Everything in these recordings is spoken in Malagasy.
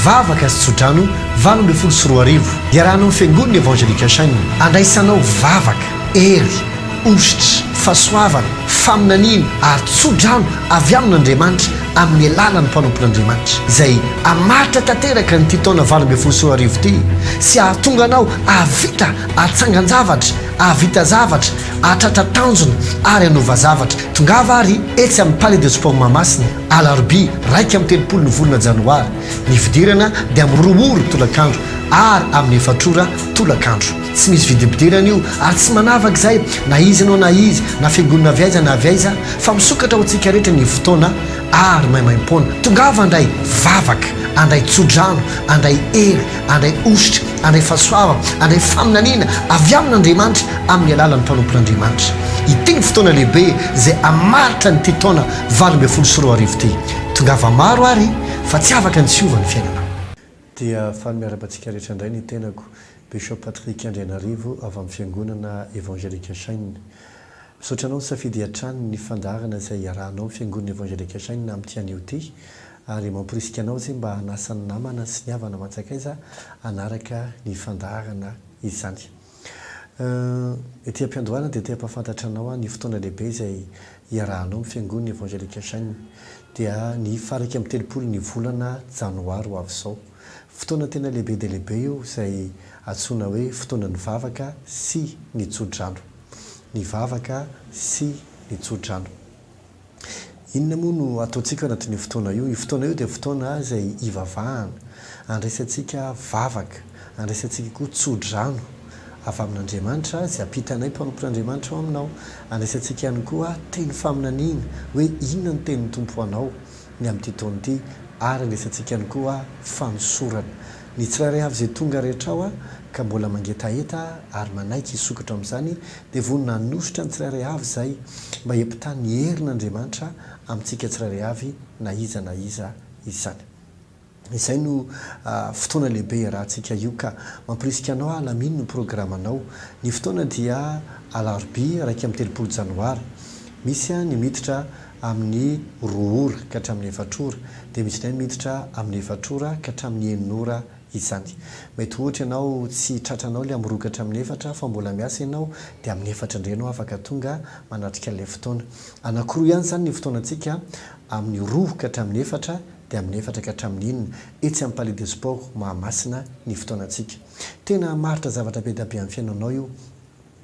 vavaka sy tsodrano valo ambin'ny folo sy roa arivo iarahana amin'ny fiangonana evangelika chaine andraisanao vavaka hery ositra fahasoavana faminaniana ary tsodrano avy amin'andriamanitra amin'ny alalan'ny mpanompon'Andriamanitra, izay hamaritra tanteraka an'ity taona valo ambin'ny folo sy roa arivo ity sy hahatonga anao hahavita hatsangan-javatra, hahavita zavatra, hahatratra tanjona ary hanova zavatra. Tongava àry etsy amin'ny Palais de Sport Mahamasina, alarobia iraika amby telopolo ny volana janoary. Ny fidirana dia amin'ny roa ora tolakandro ary amin'ny efatra ora tolakandro. Tsy misy vidim-pidirana io ary tsy manavaka izay na iza ianao na izy na fiangonana avy aiza na avy aiza fa misokatra ho antsika rehetra ny fotoana ary maimaim-poana. Tongava handray vavaka, handray tso-drano, handray hery, handray hosotra, handray fahasoavana, handray faminaniana avy amin'Andriamanitra amin'ny alalan'ny mpanompon'Andriamanitra. Ity ny fotoana lehibe izay hamaritra an'ity taona valo ambin'ny folo sy roa arivo ity. Tongava maro ary fa tsy afaka ny tsy hiova ny fiainanao. Dia faly miarabantsika rehetra indray ny tenako, Bishop Patrick Andrianarivo avy amin'ny Fiangonana Evangelique Shine. Misaotra anao nisafidy hatrany ny fandaharana izay hiarahanao amin'ny Fiangonana Evangelique Shine amin'ity anio ity, ary mamporisika anao izay mba hanasa ny namana sy ny havana aman-tsakaiza hanaraka ny fandaharana izany. Ety am-piandohana dia te-hampahafantatra anao aho ny fotoana lehibe izay hiarahanao amin'ny Fiangonana Evangelika Shine. Dia ny faha iraika amby telopolo ny volana Janoary ho avy izao. Fotoana tena lehibe dia lehibe io izay antsoina hoe fotoanan'ny vavaka sy ny tso-drano. Ny vavaka sy ny tso-drano. Inona moa no ataontsika ao anatin'io fotoana io? Io fotoana io dia fotoana izay hivavahana, handraisantsika vavaka, handraisantsika koa tsodrano avy amin'Andriamanitra izay hampita anay mpanompon'Andriamanitra ao aminao. Handraisantsika ihany koa teny faminaniana hoe inona ny tenin'ny Tompo ho anao ny amin'ity taona ity ary handraisantsika ihany koa fanosorana. Ny tsirairay avy izay tonga rehetra ao ka mbola mangetaheta ary manaiky hisokatra ao amin'izany dia vonona hanositra ny tsirairay avy izay mba hiampitany ny herin' Andriamanitra amintsika tsirairay avy na iza na iza izany. Izay no fotoana lehibe iarahantsika io ka mampirisika anao aho alamino ny programanao. Ny fotoana dia alarobia iraika amby telopolo janoary. Misy ny miditra amin'ny roa ora ka hatramin'ny efatra ora, dia misy indray miditra amin'ny efatra ora ka hatramin'ny enina ora izany. Mety ohatra ianao tsy tratranao ilay amin'ny roa ka hatramin'ny efatra fa mbola miasa ianao dia amin'ny efatra indray ianao afaka tonga manatrika ilay fotoana. Anankiroa ihany izany ny fotoanantsika amin'ny roa ka hatramin'ny efatra dia amin'ny efatra ka hatramin'ny enina etsy amin'ny Palais des Sports Mahamasina ny fotoanantsika. Tena hamaritra zavatra be dia be amin'ny fiainanao io.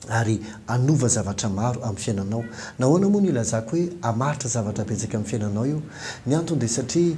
ary hanova zavatra maro amin'ny fiainanao. Nahoana moa no ilazako hoe hamaritra zavatra betsaka amin'ny fiainanao io? Ny antony dia satria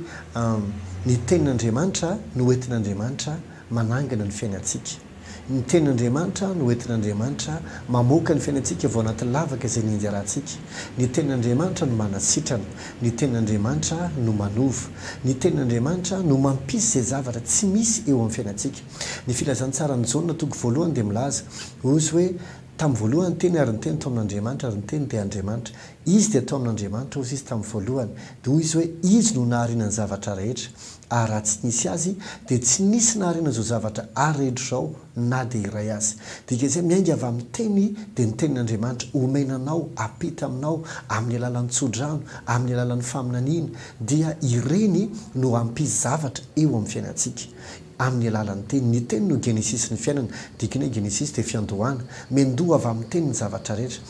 ny Tenin'Andriamanitra no entin'Andriamanitra manangana ny fiainantsika. Ny Tenin'Andriamanitra no entin'Andriamanitra mamoaka ny fiainantsika avy ao anatin'ny lavaka izay nianjarantsika. Ny Tenin'Andriamanitra no manasitrana. Ny Tenin'Andriamanitra no manova. Ny Tenin'Andriamanitra no mampisy izay zavatra tsy misy eo amin'ny fiainantsika. Ny Filazantsaran'i Jaona toko voalohany dia milaza Ozy hoe, Tamin'ny voalohany ny Teny, ary ny Teny tao amin' Andriamanitra, ary ny Teny dia Andriamanitra. Izy dia tao amin' Andriamanitra, ozy Izy tamin'ny voalohany. Dia hoy Izy hoe, Izy no nahariana ny zavatra rehetra, ary raha tsy nisy Azy, dia tsy nisy nahariana izao zavatra aredro izao na dia iray aza. Dika izay, miainga avy amin'ny Teny, dia ny Tenin' Andriamanitra omena anao, apita aminao, amin'ny alalan'ny tso-drano, amin'ny alalan'ny faminaniana, dia ireny no hampisy zavatra eo amin'ny fiainantsika. amin'ny alalan'ny teny. Ny teny no genesisin'ny fiainana. Dikany hoe genesis dia fiandohana. Miandoha avy amin'ny teny ny zavatra rehetra.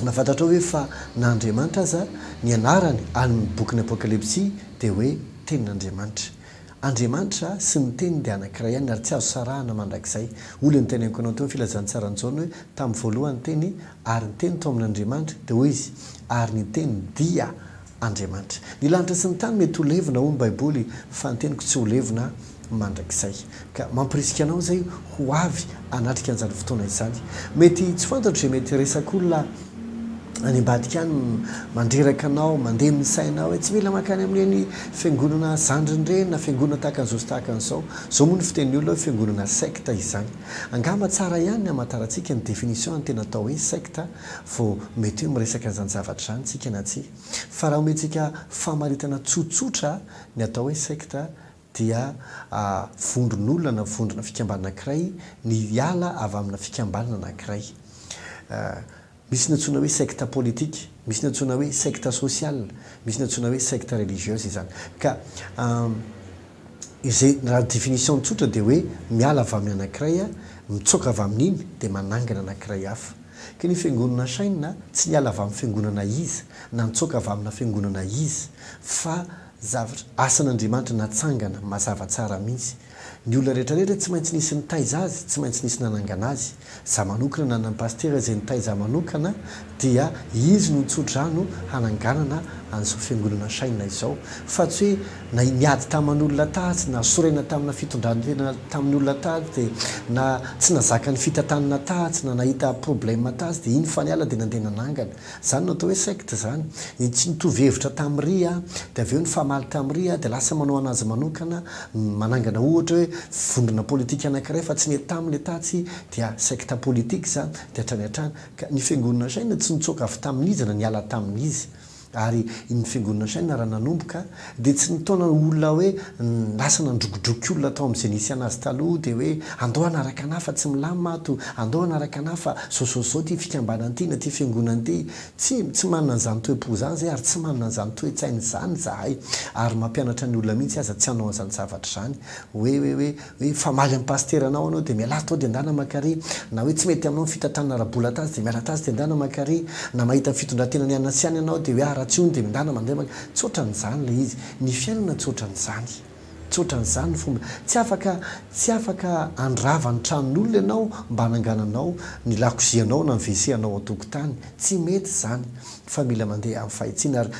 Na fantatrao ve fa na Andriamanitra aza, ny anarany any bokin'ny Apokalypsy dia hoe Tenin'Andriamanitra. Andriamanitra sy ny Teniny dia anankiray ihany ary tsy azo sarahana mandrakizay. Hoy ilay noteneniko anao teo ny filazantsaran'i Jaona hoe tamin'ny voalohany ny Teny ary ny Teny tao amin'Andriamanitra, dia hoy izy ary ny Teny dia. Andriamanitra. Ny lanitra sy ny tany mety ho levona, hoy ny Baiboly, fa ny teniko tsy ho levona mandrakizay. Ka mampirisika anao izay ho avy hanatrika an'izany fotoana izany. Mety tsy fantatro izay mety hiresak'olona any ambadika any, mandreraka anao, mandeha ny sainao hoe tsy mila mankany amin'ireny fiangonana zandriny ireny na fiangonana tahaka an'izao sy tahaka an'izao. Izao moa ny fitenin'ny olona hoe fiangonana secte izany. Angamba tsara ihany ny hamantarantsika ny définition an'ny tena atao hoe secte vao mety hoe miresaka an'izany zavatra izany isika na tsia. Fa raha omentsika famaritana tsotsotra ny atao hoe sekta dia vondron'olona na vondrona fikambanana anankiray ny hiala avy amina fikambanana anankiray. Misy ny antsoina hoe sekta politika, misy ny antsoina hoe sekta sosiala, misy ny antsoina hoe sekta religieuse izany. Ka. izay raha ny définition tsotra dia hoe miala avy amin'ny anankiray a, mitsoaka avy amin'iny dia manangana anankiray hafa. Ka ny fiangonana Chaîne tsy niala avy amin'ny fiangonana iza na nitsoaka avy amina fiangonana iza fa zavatra, asan'Andriamanitra natsangana mazava tsara mihitsy. Ny olona rehetra rehetra tsy maintsy nisy nitaiza azy, tsy maintsy nisy nanangana azy. Za manokana na anan'i Pasitera izay nitaiza ahy manokana dia izy no nitso-drano hananganana an'izao fiangonana Shine izao. Fa tsy hoe na niady taman'olona tatsy, na sorena tamina fitondran-tena tamin'ny olona tatsy dia, na tsy nazaka ny fitantanana tatsy, na nahita problema tatsy dia iny fa niala dia nandeha nanangana. Izany no atao hoe secte izany. Ny tsy nitovy hevitra tamin'i ry a, dia avy eo nifamaly tamin'i ry a, dia lasa manao an'azy manokana, manangana ohatra hoe vondrona politika anankiray fa tsy nety taminy le tatsy, dia secte politique izany, dia hatrany hatrany. Ka ny Fiangonana Shina tsy nitsoaka avy tamin'izy na niala tamin'izy. Ary ny Fiangonana Shina raha nanomboka, Dia tsy nitaona olona hoe lasa nandrokidroky olona tao amin'izay nisy anazy taloha dia hoe andao hanaraka anah fa tsy milamina ato, andao hanaraka anah fa zao zao zao ity fikambanana ity na ity fiangonana ity. Tsia, tsy manana an'izany toe-po izany izay ary tsy manana an'izany toe-tsaina izany izahay. Ary mampianatra ny olona mihitsy aza tsy hanao an'izany zavatra izany hoe hoe hoe. Hoe mifamaly amin'ny pasiteranao anao dia mialà tao dia endana maka re, na hoe tsy mety aminao ny fitantanana ara-bola tatsy dia miala tatsy dia endana maka re, na mahita ny fitondran-tena nianina sy any anao dia hoe ah raha tsy hono dia endana mandeha maka, tsy ohatran'izany ilay izy, ny fiainana tsy ohatran'izany, tsy ohatran'izany ny fomba, tsy afaka, tsy afaka handrava ny tranon'olona ianao mba hanangananao ny lakozianao na ny WC anao ao an-tokotany, tsy mety izany. fa mila mandeha amin'ny fahitsiana ary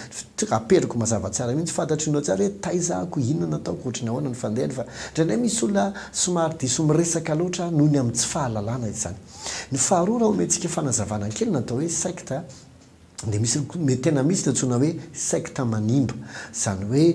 aperiko mazava tsara mihitsy fantatry ianao tsara hoe taizako inona no ataoko ohatry ny ahoana ny fandehany fa indraindray misy olona somary diso miresaka loatra noho ny amin'ny tsy fahalalana izany ny faharoa raha omentsika fanazavana kely ny atao hoe secte dia misy mety tena misy ny antsoina hoe secte manimba izany hoe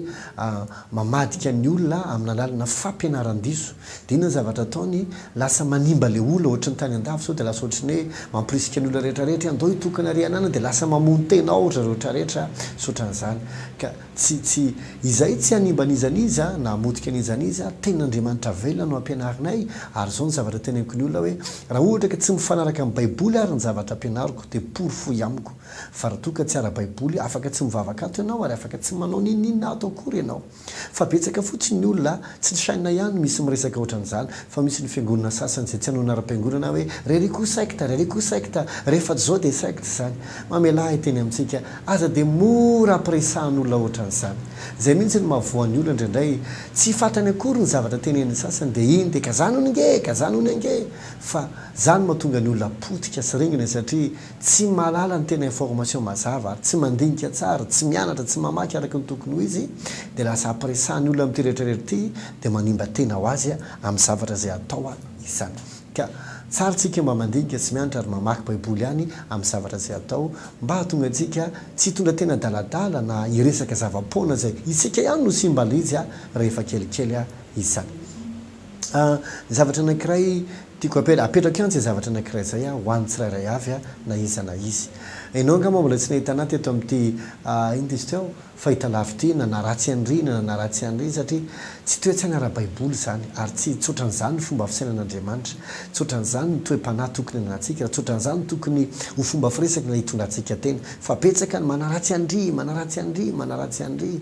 mamadika ny olona amin'ny alalanà fampianaran-diso Dia inona ny zavatra ataony? Lasa manimba ilay olona ohatry ny tany an-dafy sao dia lasa ohatry ny hoe mampirisika ny olona rehetra rehetra hoe andao hitokana ry anana dia lasa mamono tena ao ry zareo rehetra rehetra tsy ohatran'izany ka tsy tsy izahay tsy hanimba an'iza n'iza na hamotika an'iza n'iza ten'Andriamanitra velona no ampianarinay ary izao ny zavatra teneniko ny olona hoe raha ohatra ka tsy mifanaraka amin'ny baiboly ary ny zavatra ampianariko dia porofoy amiko fa raha toa ka tsy ara-baiboly afaka tsy mivavaka ato ianao ary afaka tsy manao n'inon'inona ato akory ianao Fa betsaka fotsiny ny olona, tsy ny chaine ihany misy miresaka ohatran'izany, fa misy ny fiangonana sasany izay tsy hanao anaram-piangonana hoe Reriko secte, Reriko secte, rehefa tsy izao dia secte izany. Mamelà hiteny amintsika, aza dia mora ampiresahan'olona ohatran'izany. Izay mihitsy no mahavoa ny olona indraindray, tsy fatrany akory ny zavatra tenenin'ny sasany dia iny dia kazana hono nge, kazana hono ange! Fa izany mahatonga ny olona potika sy ringana satria, Tsy mahalala ny tena information mazava ary tsy mandinika tsara, tsy mianatra, tsy mamaky araky ny tokony ho izy dia lasa apresahan'ny olona amin'ity rehetra rehetra ity dia manimba tena ho azy amin'ny zavatra izay atao izany. Ka tsara tsika mba mandinika sy mianatra ary mamaky baiboly ihany amin'ny zavatra izay atao mba hahatonga antsika tsy hitondra tena adaladala na hiresaka zava-poana izay isika ihany no simba lzy rehefa kelikely izany. Zavatra anankiray tiako apetraka, apetrako ihany izay zavatra anankiray izay ho an'ny tsirairay avy na iza na iza. Ianao angamba mbola tsy nahita an'ahy teto amin'ity inona izy teo? fahitalavitra ity na naharatsy an'ry na naharatsy an'ry satria tsy toe-tsaina ara-baiboly izany ary tsy tsy ohatran'izany ny fomba fisainan'Andriamanitra, tsy ohatran'izany ny toe-panahy tokony ananantsika, tsy ohatran'izany tokony ho fomba firesaka na hitondra antsika teny fa betsaka ny manaratsy an'ry, manaratsy an'ry, manaratsy an'ry.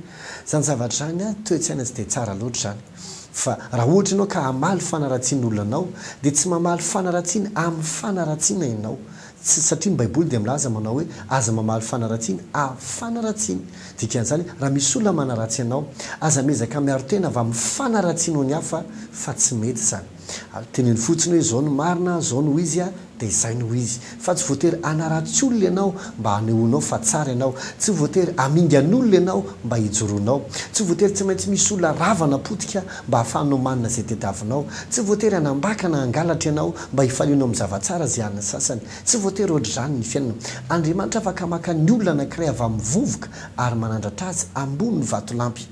Izany zavatra izany an, toe-tsaina tsy dia tsara loatra izany. Fa raha ohatra ianao ka hamaly fanaratsiana olona anao, dia tsy mamaly fanaratsiana amin'ny fanaratsiana ianao, tsy, satria ny Baiboly dia milaza manao hoe, Aza mamaly fanaratsiana amin'ny fanaratsiana. Dikan'izany, raha misy olona manaratsy anao, aza miezaka miaro tena avy amin'ny fanaratsianao ny hafa, fa tsy mety izany. Ary teneno fotsiny hoe izao no marina, izao no izy a, dia izay no izy. Fa tsy voatery hanaratsy olona ianao mba hanehoanao fa tsara ianao. Tsy voatery hamingan'olona ianao mba hijoroanao. Tsy voatery tsy maintsy misy olona rava na potika mba hahafahanao manana izay tediavinao. Tsy voatery hanambaka na hangalatra ianao mba hifalianao amin'ny zava-tsara izay an'ny sasany. Tsy voatery hoatr'izany ny fiainana. Andriamanitra afaka maka ny olona anankiray avy amin'ny vovoka ary manandratra azy ambony vatolampy.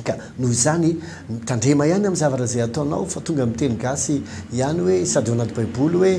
Ka noho izany, mitandrema ihany amin'ny zavatra izay ataonao fa tonga amin'ny teny gasy ihany hoe sady ao anaty baiboly hoe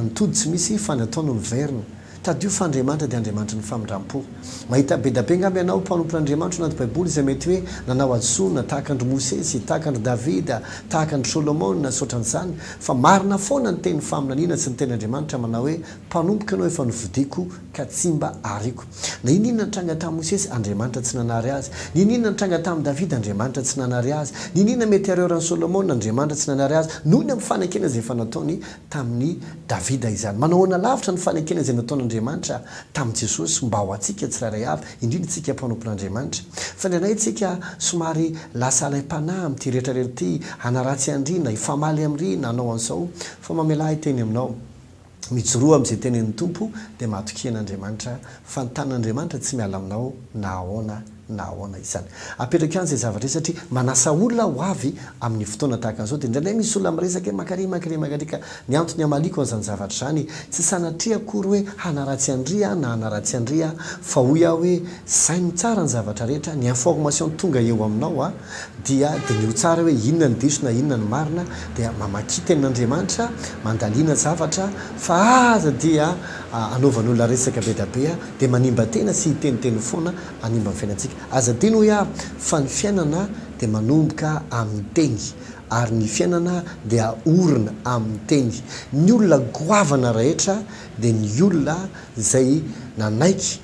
ny tody tsy misy fa ny atao no miverina. Tadidio fa Andriamanitra dia Andriamanitry ny famindram-po. Mahita be da be angamba ianao mpanompon' Andriamanitra ao anaty baiboly izay mety hoe nanao hadisoana tahaka an-dry Mosesy, tahaka an-dry Davida, tahaka an-dry Solomona sy ohatran'izany. Fa marina foana ny tenin'ny faminaniana sy ny tenin'Andriamanitra manao hoe mpanompoka ianao efa nofidiko ka tsy mba ariako. Na inona inona nitranga tamin'i Mosesy, Andriamanitra tsy nanary azy. Na inona inona nitranga tamin'i Davida, Andriamanitra tsy nanary azy. Na inona inona mety harehoran'i Solomona, Andriamanitra tsy nanary azy, noho ny amin'ny fanekena izay efa nataony tamin'i Davida izany. Manahoana lavitra ny fanekena izay nataon'Andriamanitra tamin'i Jesosy mba ho antsika tsirairay avy, indrindra isika mpanompon'Andriamanitra? Fandrinay isika somary lasa alaim-panahy amin'ity rehetra rehetra ity, hanaratsy an-dry na hifamaly amin-dry na hanao an'izao, fa mamelà ahy hiteny aminao. Mijoroa amin'izay tenenin'ny Tompo dia matokia an'Andriamanitra fa ny tanin'Andriamanitra tsy miala aminao na ahoana na ahoana izany. Apetrak'eo any izay zavatra izay satria manasa olona aho ho avy amin'ny fotoana tahaka an'izao dia indraindray misy olona miresaka hoe mankaria mankaria mankaria ka ny antony hamaliako an'izany zavatra izany tsy sanatria akory hoe hanaratsy an-dry aho na hanaratsy an-dry aho fa hoy aho hoe saino tsara ny zavatra rehetra ny information tonga eo aminao dia diniho tsara hoe inona ny diso na inona ny marina, dia mamakia tenin'Andriamanitra, mandalina zavatra, fa aza dia anaovan'olona resaka be da be dia manimba tena sy hiteniteny foana hanimba ny fiainantsika. Aza adino hoy aho fa ny fiainana dia manomboka amin'ny teny ary ny fiainana dia orina amin'ny teny. Ny olona goavana rehetra dia ny olona izay nanaiky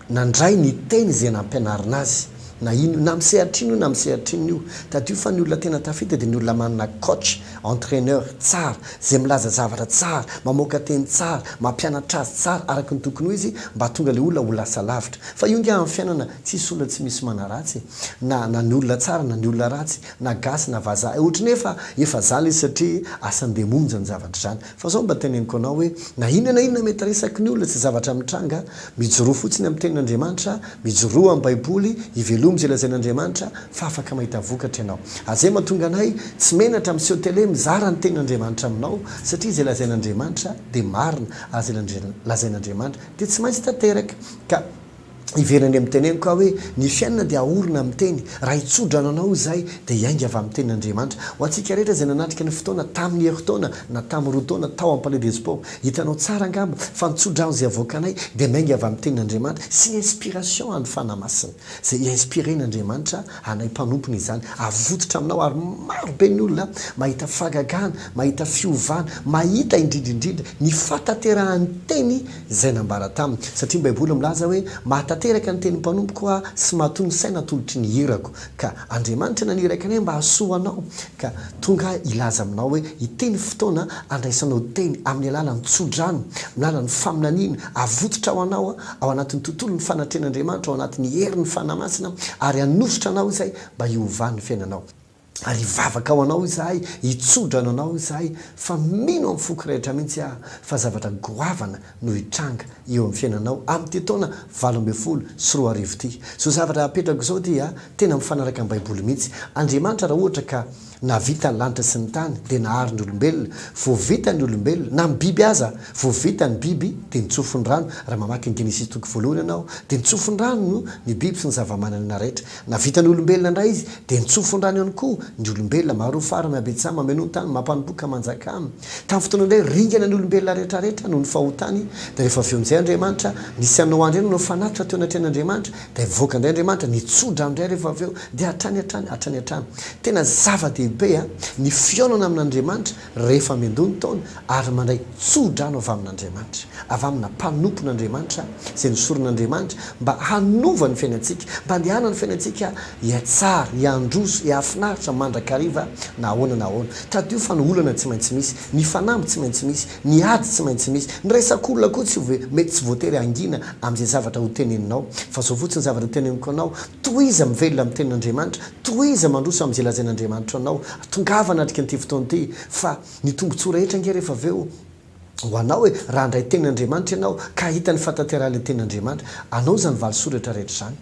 nandray ny teny izay nampianarina azy, na ino, na amin'ny sehatra ino na amin'ny sehatra ino io. Tadidio fa ny olona tena tafita dia ny olona manana coach, entraineur, tsara, izay milaza zavatra tsara, mamoaka teny tsara, mampianatra azy tsara araka ny tokony ho izy mba hahatonga ilay olona ho lasa lavitra. Fa io angaha amin'ny fiainana tsisy olona tsy misy manaratsy e! Na, na ny olona tsara na ny olona ratsy, na gasy na vazaha, ohatran'ny hoe efa, efa zany izy satria asan-demonja ny zavatra izany. Fa izao mba teneniko anao hoe na inona na inona mety resaky ny olona tsy zavatra mitranga, mijoroa fotsiny amin'ny tenin'Andriamanitra, mijoroa amin'ny baiboly, ivelomy izay lazain'Andriamanitra fa afaka mahita vokatra ianao. Azay mahatonga anay tsy menatra miseho tele mizara ny tenin'Andriamanitra aminao satria izay lazain'Andriamanitra dia marina ary izay lazain'Andriamanitra dia tsy maintsy tanteraka ka Hiverina any amin'ny teneniko aho hoe, Ny fiainana dia ahorona amin'ny teny. Raha hitso-drano anao izahay, dia hiainga avy amin'ny Tenin'Andriamanitra. Ho antsika rehetra izay nanatrika ny fotoana, tamin'ny herintaona na tamin'ny roa taona tao amin'ny Palais des Sports, hitanao tsara angamba fa ny tso-drano izay avoakanay dia miainga avy amin'ny Tenin'Andriamanitra sy inspiration an'ny Fanahy Masina. Izay i-inspirer-n'Andriamanitra anay mpanompony izany avototra aminao ary maro be ny olona mahita fagagana, mahita fiovana, mahita indrindra indrindra ny fahatanterahan'ny teny izay nambara taminy, satria ny Baiboly milaza hoe, Mahatanteraka ny tenin'ny mpanompoko aho sy matoa ny saina atolotry ny irako. Ka Andriamanitra naniraka anay mba hahasoa anao, ka tonga aho hilaza aminao hoe ity ny fotoana handraisanao teny amin'ny alalan'ny tso-drano, amin'ny alalan'ny faminaniana, havotsitra ho anao ao anatin'ny tontolon'ny fanatrehan'Andriamanitra, ao anatin'ny herin'ny Fanahy Masina, ary hanositra anao izay mba hiovan'ny fiainanao. Ary hivavaka ho anao izahay, hitso-drano anao izahay, fa mino amin'ny foko rehetra mihitsy aho fa zavatra goavana no hitranga eo amin'ny fiainanao amin'ity taona valo ambin'ny folo sy roa arivo ity. Izao zavatra apetrako izao dia tena mifanaraka amin'ny Baiboly mihitsy. Andriamanitra raha ohatra ka nahavita ny lanitra sy ny tany dia nahary ny olombelona. Vao vita ny olombelona, na ny biby aza, vao vita ny biby dia nitsofon'ny rano. Raha mamaky ny Genesisy toky voalohany ianao dia nitsofon'ny rano ny biby sy ny zavamananaina rehetra. Na vitan'ny olombelona indray izy, dia nitsofondrano ihany koa ny olombelona. Marofaran' i Abetsa mameno ny tany, mampanompoa ka manjaka. Tamin'ny fotoana indray, ringana ny olombelona rehetrarehetra noho ny fahotany, dia rehefa avy eo nizay Andriamanitra, nisy an'i Noa indray nanao fanatitra teo anatrehan' Andriamanitra, dia nivoaka indray Andriamanitra, nitsodrano indray rehefa avy eo, dia hatrany hatrany, hatrany hatrany. Tena zava-dehibe a! ny fihaonana amin' Andriamanitra, Rehefa miandoha ny taona ary mandray tsodrano avy amin'Andriamanitra, avy amina mpanompon'Andriamanitra izay nosoron'Andriamanitra mba hanova ny fiainantsika, mba handehanany ny fiainantsika hihatsara, hiandroso, hihafinaritra mandrakariva na ahoana na ahoana. Tadidio fa ny olana tsy maintsy misy, ny fanamby tsy maintsy misy, ny ady tsy maintsy misy, ny resak'olona koa tsy mety tsy voatery hangina amin'izay zavatra hoteneninao, fa izao fotsiny zavatra hoteneniko anao, Tohiza mivelona amin'ny Tenin'Andriamanitra, tohiza mandroso amin'izay lazain'Andriamanitra anao. Tongava hanatrika an'ity fotoana ity, fa ny tombontsoa rehetra ange rehefa avy eo ho anao e! Raha handray Tenin'Andriamanitra ianao, ka hahita ny fahatanterahan'ilay Tenin'Andriamanitra, anao izany valisoratra rehetra izany,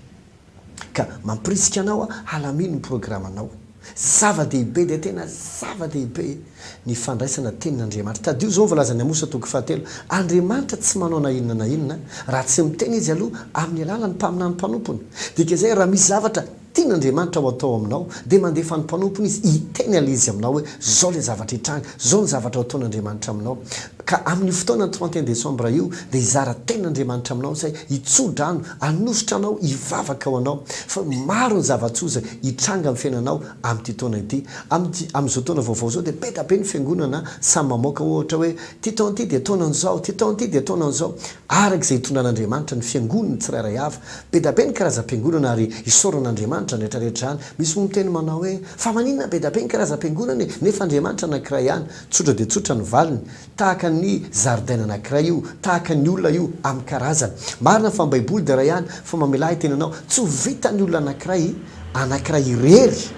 ka mampirisika anao halamino ny programanao. Zava-dehibe dia tena zava-dehibe ny fandraisana tenin' Andriamanitra. Tadidio izao ny voalazan' ny Amosa toko fahatelo, Andriamanitra tsy manao na inona na inona raha tsy miteny Izy aloha amin' ny alalan' ny mpaminany mpanompony. Dika izay, raha misy zavatra tian' Andriamanitra ho atao aminao, dia mandefa ny mpanompony Izy hiteny an' Izy aminao hoe, Izao ilay zavatra hitranga, izao ny zavatra ho ataon' Andriamanitra aminao. Ka amin' io fotoana ny trente et un décembre io dia hizara tenin' Andriamanitra aminao izay, hitsoa-drano Hanositra anao hivavaka ho anao fa maro ny zava-tsoza hitranga amin'ny fiainanao amin'ity taona ity. Amin'ity, amin'izao taona vaovao izao dia be dia be ny fiangonana samy mamoaka ohatra hoe, ity taona ity dia taonan'izao, ity taona ity dia taonan'izao. Araka izay itondran'Andriamanitra ny fiangonany tsirairay avy. Be dia be ny karazam-piangonana ary isaoran'Andriamanitra izany rehetra rehetra izany. Misy moa miteny manao hoe, fa maninona be dia be ny karazam-piangonana e? nefa Andriamanitra anankiray ihany. Tsotra dia tsotra ny valiny. Tahaka ny zaridaina anankiray io, tahaka ny olona io amin'ny karazany. Marina fa ny Baiboly dia iray ihany, fa mamelà ny tenanao. Tsy ho vitan'ny olona anankiray, anankiray irery,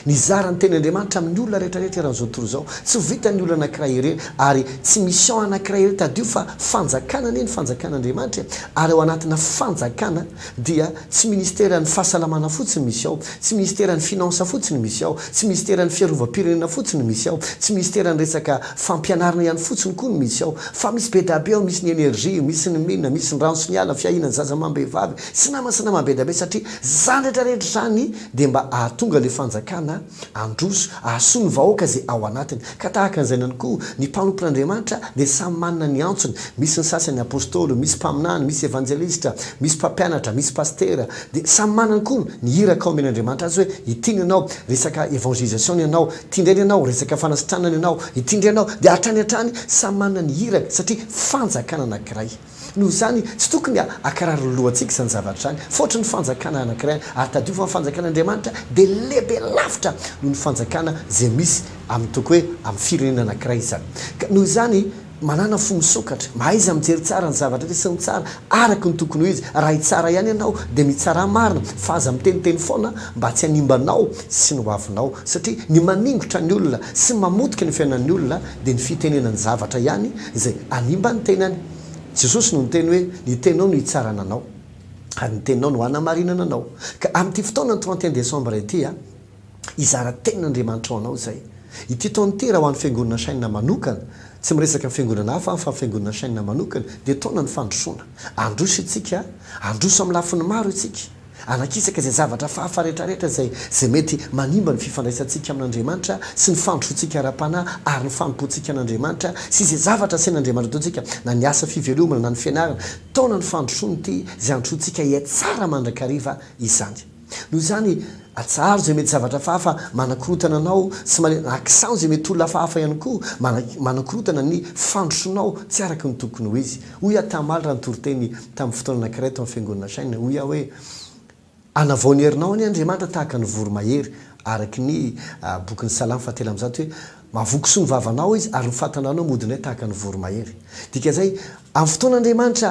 ny zara ny Tenin'Andriamanitra amin'ny olona rehetrarehetra eran'izao tontolo izao. Tsy ho vitan'ny olona anankiray irery, ary tsy mission anankiray irery. Tadidio fa fanjakana anie ny Fanjakan'Andriamanitra e, ary ao anatina fanjakana. dia tsy ministeran'ny fahasalamana fotsiny misy ao, tsy ministeran'ny finances fotsiny misy ao, tsy ministeran'ny fiarovam-pirenena fotsiny misy ao, tsy ministeran'ny resaka fampianarana ihany fotsiny koa no misy ao fa misy be dabe ao, misy ny energie, misy ny mines, misy ny rano sy ny ala, fiahiana ny zaza amam-behivavy sy nama sy nama be dabe satria izany rehetra rehetra izany dia mba ahatonga ilay fanjakana Handroso, hahasoa ny vahoaka izay ao anatiny. Ka tahaka an'izay ihany koa, ny mpanompon'Andriamanitra dia samy manana ny antsony. Misy ny sasany apostoly, misy mpaminany, misy evanjelistra, misy mpampianatra, misy pasitera. Dia samy manana koa ny iraka omen'Andriamanitra azy hoe, ity ny anao, resaka évangélisation ny anao, ity indray ny anao, resaka fanasitranana ny anao, ity indray ny anao. Dia hatrany hatrany, samy manana ny iraka satria fanjakana anankiray. Noho izany, tsy tokony hakarary ny lohantsika izany zavatra izany, fa hoatry ny fanjakana anankiray, ary tadidio fa ny fanjakan'Andriamanitra dia lehibe lavitra noho ny fanjakana izay misy amin'ny toky hoe amin'ny firenena anankiray izany. Ka noho izany, manàna fo misokatra, mahaiza mijery tsara ny zavatra rehetra sy ny tsara araka ny tokony ho izy. Raha hitsara ihany ianao, dia mitsara marina, fa aza miteniteny foana mba tsy hanimba anao sy ny hoavinao, satria ny maningotra ny olona sy ny mamotika ny fiainan'ny olona, dia ny fitenenany zavatra ihany izay hanimba ny tenany. Jesosy no niteny hoe, Ny teninao no hitsarana anao, ary ny teninao no hanamarinana anao. Ka amin'ity fotoana ny trente et un décembre ity, hizara tenin'Andriamanitra ho anao izay. Ity taona ity, raha ho an'ny Fiangonana Shine manokana, tsy miresaka ny Fiangonana hafa aho fa ny Fiangonana Shine manokana, dia taonan'ny fandrosoana. Handroso isika, handroso amin'ny lafiny maro isika. Alakisaka izay zavatra hafahafa rehetrarehetra izay izay mety manimba ny fifandraisantsika amin'Andriamanitra sy ny fandrosoantsika ara-panahy ary ny fanompoantsika an'Andriamanitra sy izay zavatra asain'Andriamanitra ataontsika na ny asa fivelomana na ny fianarana taona ny fandrosoany ity izay handrosoantsika hiatsara mandrakariva izany noho izany atsaharo izay mety zavatra hafahafa manakorontana anao sy male na akisano izay mety olona hafahafa ihany koa mana manakorontana ny fandrosoanao tsy araka ny tokony ho izy Hoy aho tamaly raha nitoriteny tamin'ny fotoana anankiray tao amin'ny Fiangonana Shine, hoy aho hoe, Anavao ny herinao anie Andriamanitra tahaka ny voromahery, araka ny bokin'ny Salamo fahatelo amby zato hoe, Mavoky soa ny vavanao Izy, ary ny fahatananao modinay tahaka ny voromahery. Dikan'izay, amin'ny fotoana Andriamanitra,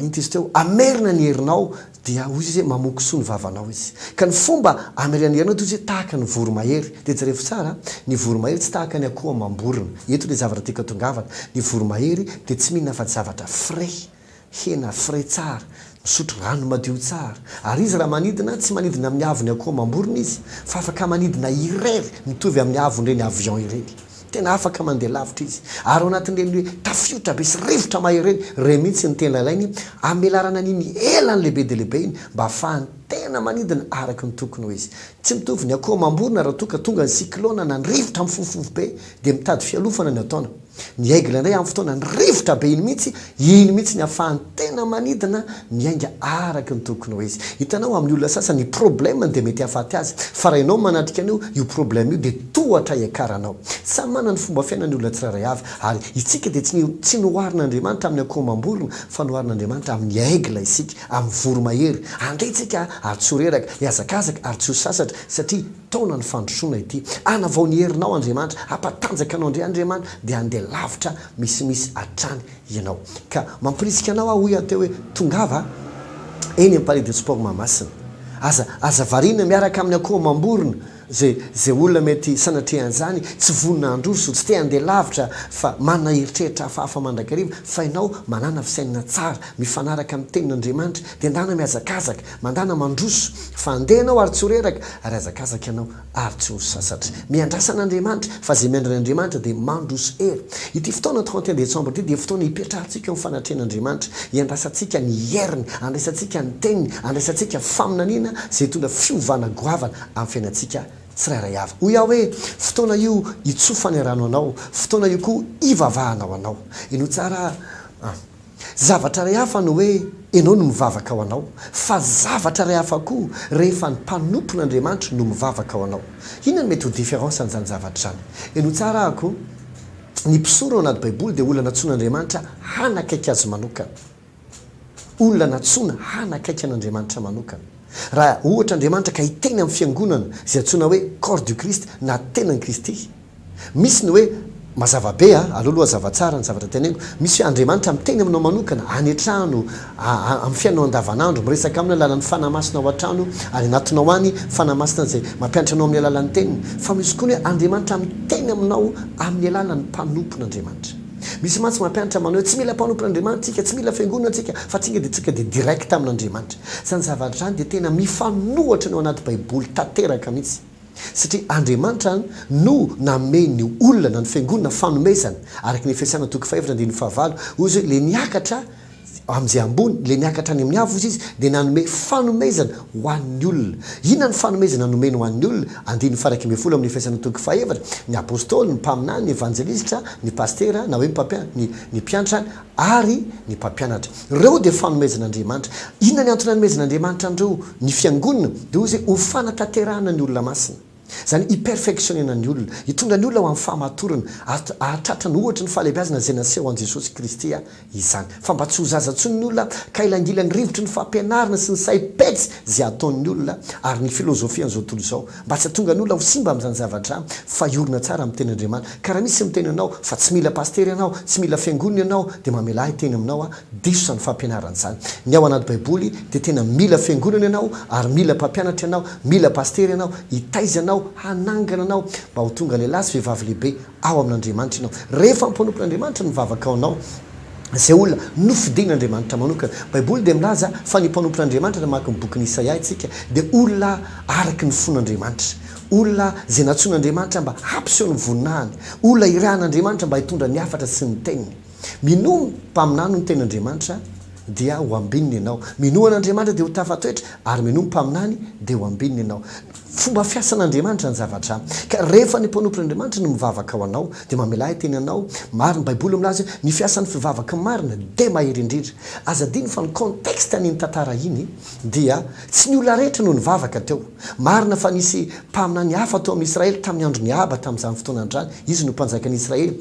inty izy teo, hamerina ny herinao, Dia hoy izy hoe, Mamoa kisoa ny vavanao izy. Ka ny fomba anirianirinao dia hoy izy hoe, Tahaka ny voromahery. Dia jereo tsara, ny voromahery tsy tahaka ny akoho amam-borona. Eto ilay zavatra tiako atongavana, ny voromahery dia tsy mihinana afa-tsy zavatra frais, hena frais tsara, misotro rano madio tsara. Ary izy raha manidina, tsy manidina amin'ny haavon'ny akoho amam-borona izy, fa afaka manidina irery mitovy amin'ny haavon'ireny avion ireny. Tena afaka mandeha lavitra izy. Ary ao anatin'ireny hoe tafiotra be sy rivotra mahery ireny, ireny mihitsy ny tena ilainy hamelarana an'iny elany lehibe dia lehibe iny mba hahafahany tena manidina araka ny tokony ho izy. Tsy mitovy ny akoho amam-borona raha toa ka tonga ny cyclone na ny rivotra mifofofofobe dia mitady fialofana ny hataona. Ny aigle indray amin'ny fotoanan'ny rivotra be iny mihitsy Iny mihitsy ny hafahany tena manidina miainga araka ny tokony ho izy. Hitanao, amin'ny olona sasany ny problème-ny dia mety hahafaty azy, fa rainao manatrika an'io, io problème io dia tohatra hiakaranao. Samy manana ny fomba fiainany ny olona tsirairay avy, ary isika dia tsy tsy noharin'Andriamanitra amin'ny akoho amam-borona, fa noharin'Andriamanitra amin'ny aigle isika, amin'ny voromahery. Andeha isika ary tsy ho reraka, hihazakazaka ary tsy ho sasatra, satria taonan'ny fandrosoana ity. Hanavao ny herinao Andriamanitra, hampatanjaka anao indray Andriamanitra, dia handeha lavitra Misimisy hatrany ianao. Ka mampirisika anao aho hoy aho teo hoe, Tongava eny amin'ny Palais de Sport Mahamasina. Aza, aza variana miaraka amin'ny akoho amam-borona izay, izay olona mety sanatria an'izany, tsy vonona handroso, tsy te handeha lavitra fa manana eritreritra hafahafa mandrakariva, fa ianao manàna fisainana tsara, mifanaraka amin'ny Tenin'Andriamanitra, dia ndana mihazakazaka, mandàna mandroso, fa handeha ianao ary tsy ho reraka, ary hazakazaka ianao. ary tsy ho sasatra. Miandrasana Andriamanitra, fa izay miandry an'Andriamanitra dia mandroso hery. Ity fotoana trente et un décembre ity dia fotoana hipetrahantsika eo amin'ny fanatrehan'Andriamanitra, hiandrasantsika ny heriny, handraisantsika ny teniny, handraisantsika faminaniana izay hitondra fiovana goavana amin'ny fiainantsika tsirairay avy. Hoy aho hoe, fotoana io hitsofany rano anao, fotoana io koa hivavahanao anao. Henoy tsara an! Zavatra iray hafa ny hoe ianao no mivavaka ho anao, fa zavatra iray hafa koa rehefa ny mpanompon' Andriamanitra no mivavaka ho anao. Inona no mety ho différence an'izany zavatra izany? Henoy tsara ahako, Ny mpisoro ao anaty Baiboly dia olona nantsoin' Andriamanitra hanakaiky Azy manokana. Olona nantsoina hanakaiky an' Andriamanitra manokana. Raha ohatra Andriamanitra ka hiteny amin'ny fiangonana izay antsoina hoe Corps du Christ na Tenan'i Kristy, Misy ny hoe, mazava be a, aleo aloha hazava tsara ny zavatra teneniko, misy hoe Andriamanitra miteny aminao manokana, any an-trano, a a amin'ny fiainanao andavanandro, miresaka aminy alalan'ny Fanahy Masina ao an-trano, any anatinao any, Fanahy Masina izay mampianatra anao amin'ny alalan'ny teniny. Fa misy koa ny hoe Andriamanitra miteny aminao amin'ny alalan'ny mpanompon'Andriamanitra. Misy mantsy mampianatra manao hoe tsy mila mpanompon'Andriamanitra tsika, tsy mila fiangonana tsika, fa tsika dia tsika dia direct amin'Andriamanitra. Izany zavatra izany dia tena mifanohitra ny ao anaty baiboly tanteraka mihitsy. Satria Andriamanitra no nanome ny olona na ny fiangonana fanomezana, araka ny Efesiana toko fahefatra andininy fahavalo, hoy izy hoe, ilay niakatra amin'izay ambony, ilay niakatra any amin'ny avo, hozy izy, dia nanome fanomezana ho an'ny olona. Inona ny fanomezana nomeny ho an'ny olona? Andininy faha iraika ambin'ny folo amin'ny Efesiana toko fahefatra, ny Apostoly, ny Mpaminany, ny Evanjelisitra, ny Pasitera, na hoe ny Mpampianatra, ny Mpiantra, ary ny mpampianatra. Ireo dia fanomezan'Andriamanitra. Inona ny antony anomezan'Andriamanitra an'ireo? Ny Fiangonana dia hoy izy hoe ho fanatanterahana ny olona masina. Izany hi-perfectionner-na ny olona, hitondra ny olona ho amin'ny fahamatorana ary hahatratra ny ohatry ny fahalehibeazana izay naseho an'i Jesosy Kristy izany. Fa mba tsy ho zaza intsony ny olona ka hilangilany rivotry ny fampianarana sy ny saim-petsy izay ataon'ny olona ary ny filozofian'izao tontolo izao, Mba tsy hahatonga ny olona ho simba amin'izany zavatra fa hiorina tsara amin'ny tenin'Andriamanitra. Ka raha misy miteny anao fa tsy mila pasitera ianao, tsy mila fiangonana ianao, dia mamelà hiteny aminao aho, diso izany fampianarana izany. Ny ao anaty baiboly dia tena mila fiangonana ianao ary mila mpampianatra ianao, mila pasitera ianao hitaiza anao, hanangana anao mba ho tonga lehilahy sy vehivavy lehibe ao amin'Andriamanitra ianao. Rehefa ampanompon'Andriamanitra ny vavaka ao anao, izay olona nofidin'Andriamanitra manokana. Baiboly dia milaza fa ny mpanompon'Andriamanitra, raha mamaky ny bokin'i Isaia isika, dia olona araka ny fon'Andriamanitra, olona izay nantsoin'Andriamanitra mba hampiseho ny voninahiny, olona irahan'Andriamanitra mba hitondra ny hafatra sy ny teniny. Minoa mpaminany ny tenin'Andriamanitra dia ho ambininy ianao. Minoa an'Andriamanitra dia ho tafatoetra, ary minoa mpaminany dia ho ambininy ianao. Fomba fiasan'Andriamanitra ny zavatra, ka rehefa ny mpanompon'Andriamanitra no mivavaka ho anao, dia mamela ahy teny anao, marina ny baiboly milaza hoe ny fiasan'ny fivavaka marina dia mahery indrindra, aza adino fa ny contexte an'iny tantara iny dia tsy ny olona rehetra no nivavaka teo, marina fa nisy mpaminany hafa tao amin'i Israely tamin'ny andron'i Ahaba tamin'izany fotoana an'izany, izy no mpanjakan'i Israely,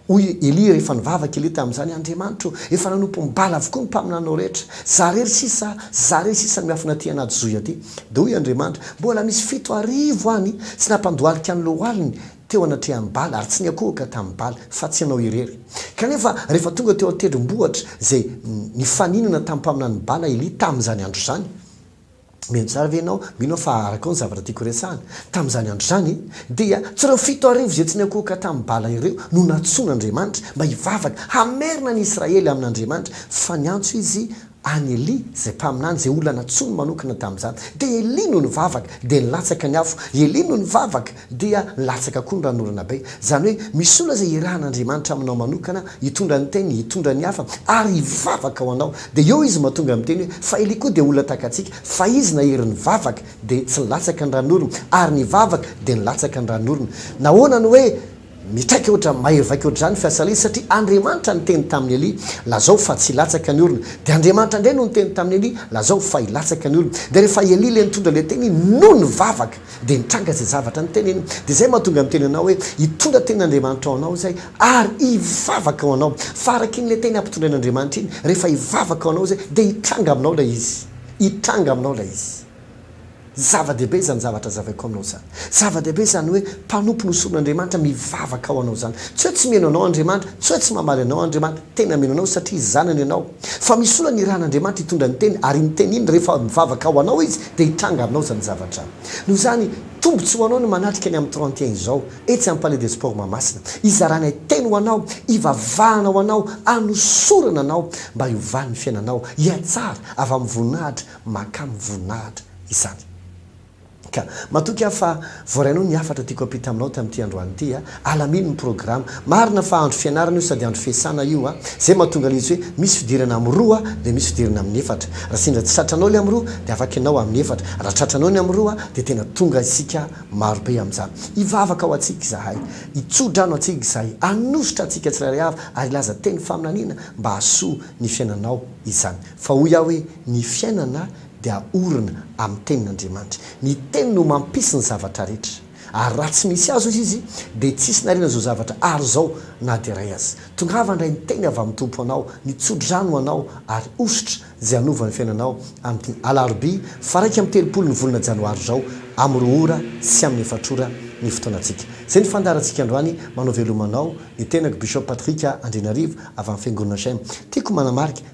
Hoy i Elia rehefa nivavaka Elia tamin'izany, Andriamanitro, efa nanompo Bala avokoa ny mpaminanao rehetra. Zah irery sisa, zah irery sisa no miafina aty anaty zohy aty. Dia hoy Andriamanitra, Mbola misy fito arivo any tsy nampandohalika ny lohaliny teo anatrehan'i Bala ary tsy niankohoka tamin'i Bala, fa tsy ianao irery. Kanefa rehefa tonga teo an-tendrombohitra izay nifaninana tamin'ny mpaminanin'i Bala Elia tamin'izany andro izany, Mihaino tsara ve ianao? Mino aho fa araka ny zavatra tiako horesahana, tamin'izany andro izany, dia tsy ireo fito arivo izay tsy niankohoka tamin'i Bala ireo no nantsoin'Andriamanitra mba hivavaka hamerina an'i Israely amin'Andriamanitra, fa niantso izy an'i Elia, izay mpaminany, izay olona nantsoiny manokana tamin'izany. Dia Elia no nivavaka, dia nilatsaka ny afo. Elia no nivavaka. Dia latsaka koa ny ran'orana be. Izany hoe misy olona izay irahan'Andriamanitra aminao manokana hitondra ny teniny, hitondra ny hafa ary hivavaka ho anao. Dia eo izy mba tonga miteny hoe, fa Elia koa dia olona tahaka antsika, fa izy nahery nivavaka dia tsy nilatsaka ny ran'orony, ary nivavaka dia nilatsaka ny ran'orony. Nahoana no hoe. Mitraka ohatra mahery vaika ohatr'izany fiasa Elia satria Andriamanitra niteny tamin'i Elia, Lazao fa tsy hilatsaka ny orona. Dia Andriamanitra indray no niteny tamin'i Elia, Lazao fa hilatsaka ny orona. Dia rehefa Elia ilay nitondra ilay teny iny no nivavaka, dia nitranga izay zavatra niteny iny. Dia izay mahatonga miteny anao hoe hitondra tenin'Andriamanitra ho anao izay ary hivavaka ho anao. Fa araka iny ilay teny hampitondrain'Andriamanitra iny, rehefa hivavaka ho anao izay dia hitranga aminao ilay izy. Hitranga aminao ilay izy. Zava-dehibe izany zavatra hazavaiko aminao izany. Zava-dehibe izany hoe mpanompo nosoron'Andriamanitra mivavaka ho anao izany. Tsy hoe tsy mino anao Andriamanitra, tsy hoe tsy mamaly anao Andriamanitra. Tena mino anao satria zanany ianao. Fa misy olona nirahan'Andriamanitra hitondra ny Teniny, ary iny Teny iny, rehefa mivavaka ho anao Izy, dia hitranga aminao izany zavatra. Noho izany, tombontsoa ho anao ny manatrika ny amin'ny trente et un izao, etsy amin'ny Palais des Sports Mahamasina. Hizaranay Teny ho anao, hivavahana ho anao, hanosorana anao, mba hiovan'ny fiainanao, hihatsara avy amin'ny voninahitra mahakamo voninahitra izany. Ka matoky aho fa voaray anao ny hafatra tiako hampita aminao tamin'ity androany ity a! Alamino ny programa. Marina fa andro fianarana io sady andro fiasana io a! Zay mahatonga ilay izy hoe misy fidirana amin'ny roa dia misy fidirana amin'ny efatra. Raha sendra tsy tratranao ilay amin'ny roa dia afaka ianao amin'ny efatra. Raha tratranao ny amin'ny roa dia tena tonga isika marobe amin'izany. Hivavaka ho antsika izahay. Hitso-drano antsika izahay. Hanositra antsika tsirairay avy ary hilaza teny faminaniana mba hahasoa ny fiainanao izany. Fa hoy aho hoe. Ny fiainana dia orina amin'ny tenin'Andriamanitra. Ny teny no mampisy ny zavatra rehetra. Ary raha tsy misy azy, hoy izy, dia tsy hisy nariana izao zavatra ary izao na dia iray aza. Tongava indray ny teny avy amin'ny Tompo ho anao, ny tsodrano ho anao, ary hosotra izay hanova ny fiainanao amin'ny alarobia faha iraika amby telopolo ny volana janoary izao amin'ny roa ora sy amin'ny efatra ora ny fotoanantsika. Izay ny fandaharantsika androany. Manao veloma anao ny tenako Bishop Patrick Andrianarivo avy amin'ny Fiangonana Shem. Tiako manamarika.